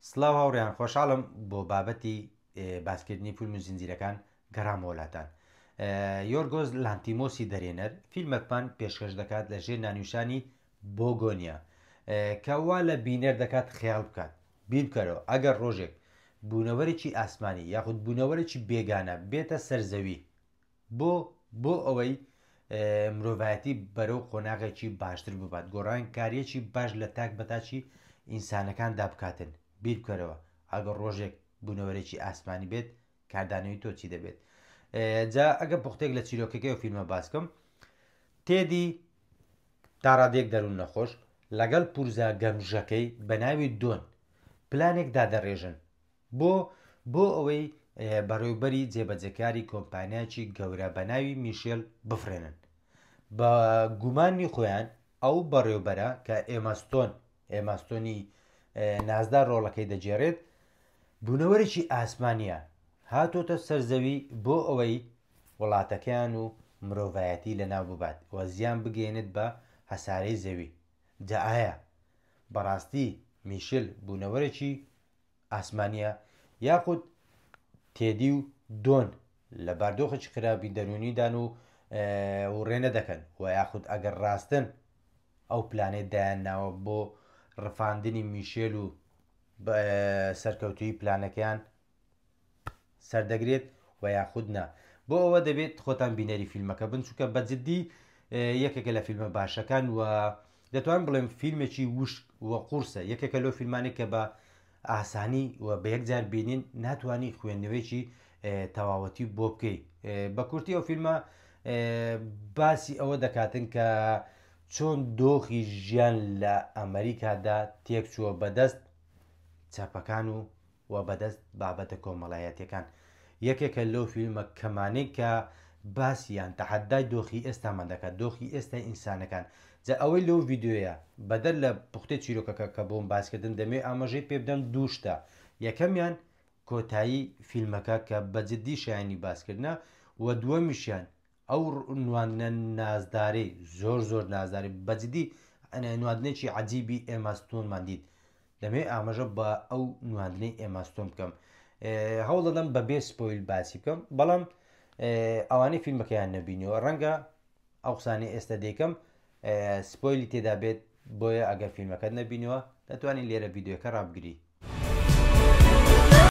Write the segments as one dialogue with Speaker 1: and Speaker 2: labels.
Speaker 1: سڵاو هاوڕێیان خۆشحاڵم بۆ بابەتی باسکردنی فیلم و زنجیرەکان گەڕامەوە لاتان یۆرگۆز لانتیمۆسی دەرێنەر فیلمەکمان پێشکەش دەکات لە ژێر نانیوشانی بۆگۆنیا کەوا لە بینەر دەکات خیاڵ بکات بیرکەرەوە ئەگەر ڕۆژێک بوونەوەرێکی ئاسمانی یاخود بوونەوەرێکی بێگانە بێتە سەرزەوی بۆ؟ بۆ ئەوەی مرۆڤایەتی بەرەو قۆناغێکی باشتر ببات، گۆڕانکارییەکی باش لە تاک بە تاکی ئینسانەکاندا بکاتن. بیر بکەرەوە، ئەگەر ڕۆژێک بوونەوەرێکی ئاسمانی بێت، کاردانەوەی تۆ چی دەبێت؟ جا ئەگەر پوختەیەک لە چیرۆکەکەی ئەو فیلمە باس بکەم، تێدی تا ڕادەیەک دەروون نەخۆش لەگەڵ پورزا گەمژەکەی بە ناوی دۆن پلانێک دادەڕێژن بۆ؟ بۆ ئەوەی بەڕێوبەری جێبەجێکاری کۆمپانیایەکی گەورە بە ناوی میشێل بفرێنن. بە گومانی خۆیان ئەو بەڕێوبەرە کە ئێماستۆن ئێماستۆنی نازدار ڕۆڵەکەی دەگێرێت بوونەوەرێکی ئاسمانە هاتۆتە سەرزەوی بۆ ئەوەی وڵاتەکەیان و مرۆڤایەتی لە ناو ببات و زیان بگەێنێت بە هەسارەی زەوی جا ئایا بەڕاستی میشل بوونەوەرێکی ئاسمانییە یاخود تێدی و دۆن لە باردۆخێکی خراپی دەروونیدان و وڕێنە دەکەن و یاخود ئەگەر ڕاستن ئەو پلانێت دایان ناوە بۆ ڕفاندنی میشێل و سەرکەوتوی پلانەکەیان سەردەگرێت وە یاخود نا بۆ ئەوە دەبێت خۆتان بینەری فیلمەکە بن چونکە بە جددی یەکێکە لە فیلمە باشەکان و دەتوان بڵێم فیلمێکی وشک و قورسە یەکێکە لەو فیلمانێک کە بە ئاسانی و بە یەکجار بینین ناتوانانی خوێندنەوەیکی تەواوەتی بۆ بکەیت بە کورتی ئەو فیلمە باسی ئەوە دەکاتن کە چۆن دۆخی ژیان لە ئەمریکادا تێکچووە بەدەست چەپەکان و و بەدەست بابەتە کۆمەڵایەتیەکان یەکێکە لەو فیلمە کەمانەی کە باسی یان تەحەدای دۆخی ئێستامان دەکات دۆخی ئێستای ئینسانەکان جا ئەوەی لەو ڤیددیوەیە بەدەر لە پوختی چیرۆکەکە کە بۆم باسکردن دەمێ ئاماژەی پێ بدەم دووشتە یەکەمیان کۆتایی فیلمەکە کە بەجددی شایانی باسکردە و دووەمیشیان ئەو نواندنە نازدارەی زۆر زۆر نازداری بە جدی نواندنێکی عجیبی ئێماستۆنمان دیت دەمەوێت ئاماژە بە ئەو نواندنەی ئێماستۆن بکەم هەوڵ دەدەم بە بێ سپۆیل باسی بکەم بەڵام ئەوانەی فیلمەکەیان نەبینەوە ڕەنگە ئەو قسانی ئێستا دێکم سپۆیلی تێدا بێت بۆیە ئەگەر فیلمەکەت نەبینەوە دەتوانین لێرە یددیوەکە ڕابگری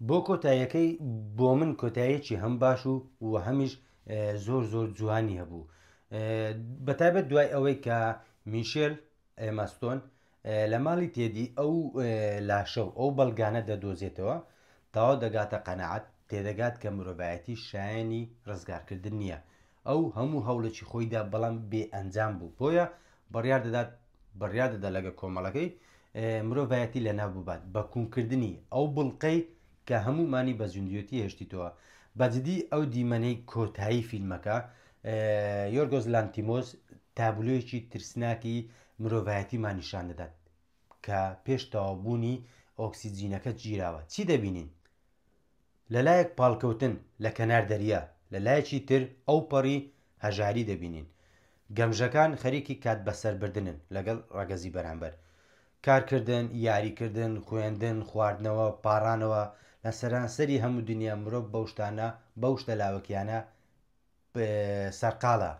Speaker 1: بۆ کۆتاییەکەی بۆ من کۆتایەکی هەم باش و و هەمیش زۆر زۆر جوانی هەبوو بەتابەت دوای ئەوەی کە میشێل ئێماستۆن لە ماڵی تێدی ئەو لاشە و ئەو بەڵگانە دەدۆزێتەوە تاوا دەگاتە قەنەعات تێدەگات کە مرۆڤایەتی شایانی ڕزگارکردن نییە ئەو هەموو هەوڵێکی خۆیدا بەڵام بێ ئەنجام بوو بۆیە بڕیار دەدات بڕیار دەدا لەگە کۆمەڵەکەی مرۆڤایەتی لە ناو ببات بە کوونکردنی ئەو بڵقەی کە هەموومانی بە زیندوێتی هێشتیتەوە بەجدی ئەو دیمەنەی کۆتایی فیلمەکە یۆرگۆز لانتیمۆز تابلۆیەکی ترسناکی مرۆڤایەتیمان نیشان دەدات کە پێش تەوابوونی ئۆکسسیجینەکە گیراوە چی دەبینین لە لایەک پاڵکەوتن لە کەنار دەریا لە لایەکی تر ئەو پەڕی هەژاری دەبینین گەمژەکان خەریکی کات بەسەربردنن لەگەڵ ڕەگەزی بەرامبەر کارکردن، یاریکردن، خوێندن، خواردنەوە، پاڕانەوە، لە سەرانسەری هەموو دنیا مرۆڤ بەو شتانە، بەو شتە لاوەکییانە سەرقاڵە،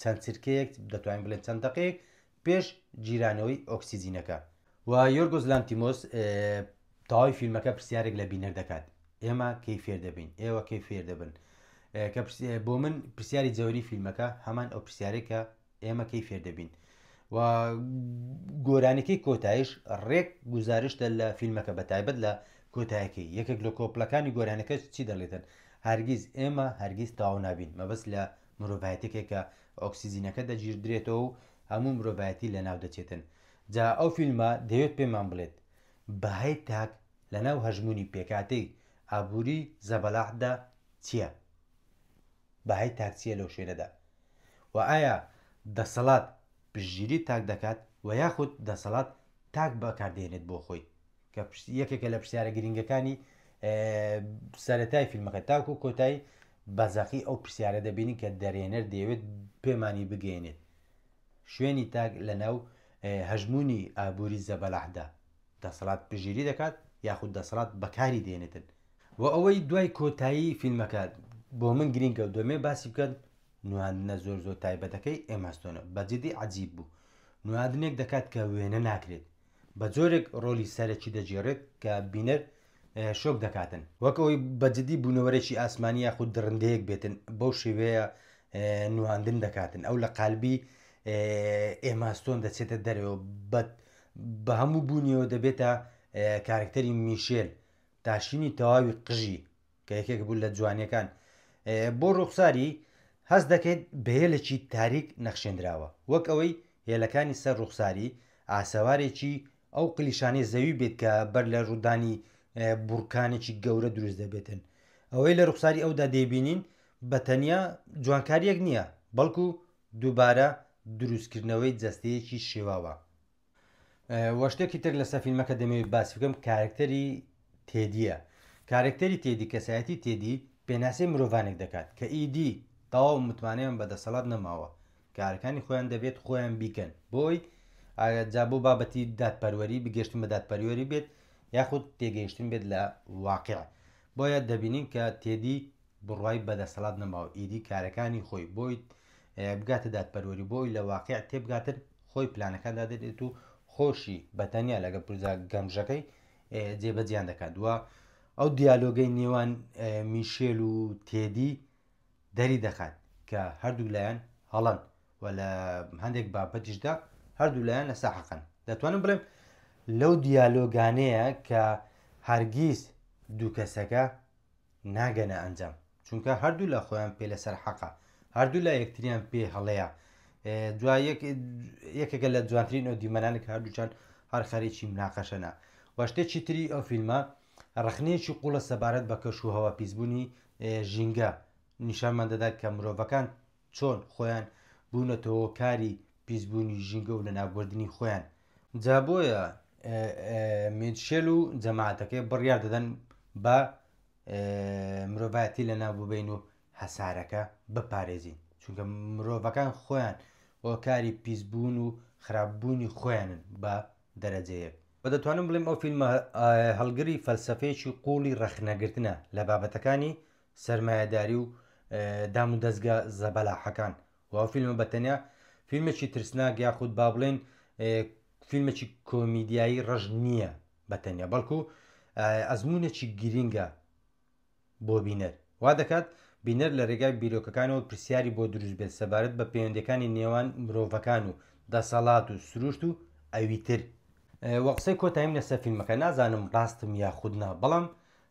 Speaker 1: چەند چرکەیەک، دەتوانین بڵێین چەند دەقەیەک پێش گیرانەوەی ئۆکسجینەکە. و یۆرگۆس لانتیمۆس تەواوی فیلمەکە پرسیارێک لە بینەر دەکات، ئێمە کەی فێر دەبین؟ ئێوە کەی فێر دەبن؟ کە بۆ من پرسیاری جەوەری فیلمەکە هەمان ئەو پرسیارێک کە ئێمە کەی فێر دەبین و گۆرانەکەی کۆتایش ڕێک گزارشتە لە فیلمەکە بە تایبەت لە کۆتایەکەی یەکێک لە کۆپلەکانی گۆرانەکە چی دەڵێتن هەرگیز ئێمە هەرگیز تاو نابین مەبەست لە مرۆڤایەتێکێکە ئۆکسسیزینەکە دەگیردرێتەوە و هەموو مرۆڤایەتی لە ناو دەچێتن جا ئەو فیلمە دەوێت پێمان بڵێت بەهای تاک لە ناو هەژمونی پێکاتەی ئابووری زەبەلاحدا چییە؟ بەهای تاک چیە لەو شوێنەدا؟ و ئایا دەسەڵات پشتگیری تاک دەکات و یاخود دەسەڵات تاک بەکاردێنێت بۆ خۆی کە یەکێکە لە پرسیارە گرنگەکانی سەتای فیلمەکە تاکو کۆتایی بەزەقی ئەو پرسیارە دەبینین کە دەرێنەر دەیەوێت پێمانی بگەێنێت شوێنی تاک لە ناو هەژمونی ئابووری زەبەلاحدا دەسەڵات پشتگیری دەکات یاخود دەسەڵات بەکاری دێنێتن و ئەوەی دوای کۆتایی فیلمەکە بۆ من گرینگە و دەمێ باسی بکەن نواندنە زۆر زۆر تایبەتەکەی ئێماستۆنە بەجددی عجیب بوو نواندنێک دەکات کە وێنە ناکرێت بە جۆرێک ڕۆلی سەرەکی دەگێڕێت کە بینەر شۆک دەکاتن وەک ئەوەی بەجددی بوونەوەرێکی ئاسمانی یاخود درندەیەک بێتن بەو شێوەیە نواندن دەکاتن ئەو لە قالبی ئێماستۆن دەچێتە دەرەوە بەت بە هەموو بوونیەوە دەبێتە کارکتەری میشێل تاشینی تەواوی قژی کە یەکێک بوو لە جوانیەکان بۆ ڕوخساری هەز دەکەیت بەهێلێکی تاریک نەخشێنراوە وەک ئەوەی هێلەکانی سەر ڕوخساری ئاسەوارێکی ئەو قلیشانەی زەوی بێت کە بەر لە ڕوودانی بورکانێکی گەورە دروست دەبێتن ئەوەی لە ڕوخساری ئەودا دەیبینین بە تەنیا جوانکاریەک نییە بەڵکو دووبارە دروستکردنەوەی جەستەیەکی شێواوە. وە شتێکی تر لەسەر فیلمەکە دەمەوێت باسی بکەم کارکتەری تێدیە کارکتەری تێدی کەسایەتی تێدی پێناسەی مرۆڤانێک دەکات کە ئیدی تەواو متمانەیان بە دەسەڵات نەماوە کارەکانی خۆیان دەبێت خۆیان بیکەن بۆی جا بۆ بابەتی دادپەروەری بگەشتن بە دادپەروەری بێت یاخود تێگەیشتن بێت لە واقع بۆیە دەبینین کە تێدی بڕوای بە دەسەڵات نەماو ئیدی کارەکانی خۆی بۆی بگاتە دادپەروەری بۆی لە واقع تێبگاتن خۆی پلانەکان دادێت و خۆشی بەتەنیا لەگەڵ پرزا گەمژەکەی جێبەجیان دەکات دووە ئەو دیالۆگەی نێوان میشێل و تێدی دەری دەخات کە هەردوو لایەن هەڵەن و لە هەندێک بابەتیشدا هەردوو لایەن لە ساحەقن دەتوانم بڵێم لەو دیالۆگانەیە کە هەرگیز دوو کەسەکە ناگەنە ئەنجام چونکە هەردوولا خۆیان پێ لەسەر حەقە هەردوولا یەکتریان پێ هەڵەیە دو یەکێکە لە جوانترین ئەو دیمەنانە کە هەردووچان هەر خەرێکی مناقەشەنا وەشتێکی تری ئەو فیلمە ڕخنەیەکی قوڵە سەبارەت بە کەش و هەوا پیسبوونی ژینگە نیشانمان دەدات کە مرۆڤەکان چۆن خۆیان بونەتە هۆکاری پیس بونی ژینگە و لەناوبردنی خۆیان جا بۆیە میتشێل و جەماعەتەکەی بڕیار دەدەن بە مرۆڤایەتی لەناو ببین و هەسارەکە بپارێزین چونکە مرۆڤەکان خۆیان هۆکاری پیسبوون و خراپبوونی خۆیانن بە دەرەجەیەک بە دەتوانم بڵێم ئەو فیلمە هەڵگری فەلسفەیەکی قوڵی ڕەخنەگرتنە لە بابەتەکانی سەرمایەداری و دام و دەزگا زەبەلاحەکان و ئەو فیلمە بە تەنیا فیلمێکی ترسناک یاخود با بڵێن فیلمێکی کۆمیدیایی ڕەش نییە بە تەنیا بەڵکو ئەزمونێکی گرینگە بۆ بینەر وا دەکات بینەر لە ڕێگای بیرۆکەکانەوە پرسیاری بۆ دروست بێت سەبارەت بە پەیوەندەکانی نێوان مرۆڤەکان و دەسەڵات و سروشت و ئەوی تر وە قسەی کۆتاییم لەسەر فیلمەکە نازانم ڕاستم یاخود نا بەڵام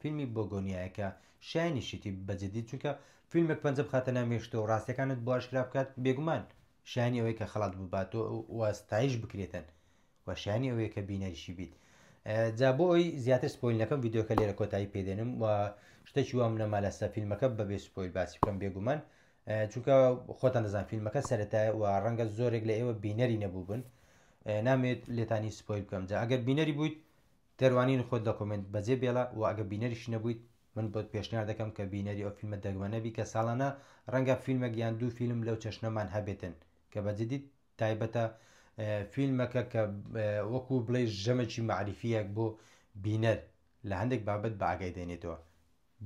Speaker 1: فیلمی بۆگۆنیایە کە شایەنی شیتی بە جدی چونکە فیلمێک پەنجە بخاتە ناو مێشکتەوە و ڕاستیەکانت بۆ ئاشکرا بکات بێگومان شایەنی ئەوەیە کە خەڵات ببات و ستایش بکرێتن و شایەنی ئەوەیە کە بینەریشی بیت جا بۆ ئەوی زیاتر سپۆیل نەکەم یددیوکە لێرە کۆتایی پێدێنم و شتێکی وام نەما لەسە فیلمەکە بەبێ سپۆیل باسی بکەم بێگومان چونکە خۆتان دەزان فیلمەکە سەرەتای و ڕەنگە زۆرێک لە ئێوە بینەری نەبوو بن نامێت لێتانی سپۆیل بکەم جا ئەگەر بینەری بوویت گەر وانین خۆت لە کۆمێنت بەجێ بێڵە وە ئەگە بینەریشی نەبوویت من بۆت پێشنیار دەکەم کە بینەری ئەو فیلمە دەگمەنە بی کە ساڵانە ڕەنگە فیلمەک یان دوو فیلم لەو چەشنەمان هەبێتن کە بە جدی تایبەتە فیلمەکە کە وەکو بڵێ ژەمەکی مەعریفیەک بۆ بینەر لە هەندێک بابەت بە ئاگای دێنێتەوە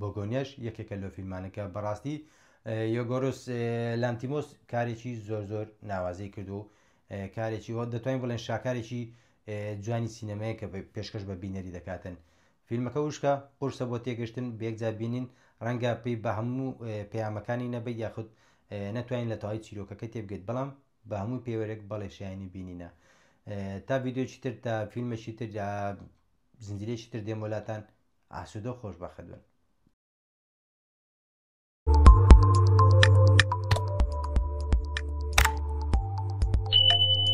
Speaker 1: بۆگۆنیاش یەکێکە لۆ فیلمانە کە بەڕاستی یۆگۆرس لانتیمۆس کارێکی زۆر زۆر ناوازەی کرد و کارێکی وە دەتوانین بڵێن شاکارێکی جوانی سینەمەیە کە پێشکەش بە بینەری دەکاتن فیلمەکە وشکە قورسە بۆ تێگەشتن بێکجا بینین ڕەنگە پێی بە هەموو پەیامەکانی نەبێت یاخود نەتوانین لە تەواوی چیرۆکەکە تێبگەیت بەڵام بە هەموو پێوەرێک بەڵێ شایانی بینینە تا ڤیددیوچی تر تا فیلمەشی تر زنجیرێکی تر دێمۆلاتان ئاسوودە و خۆشبەخت بن.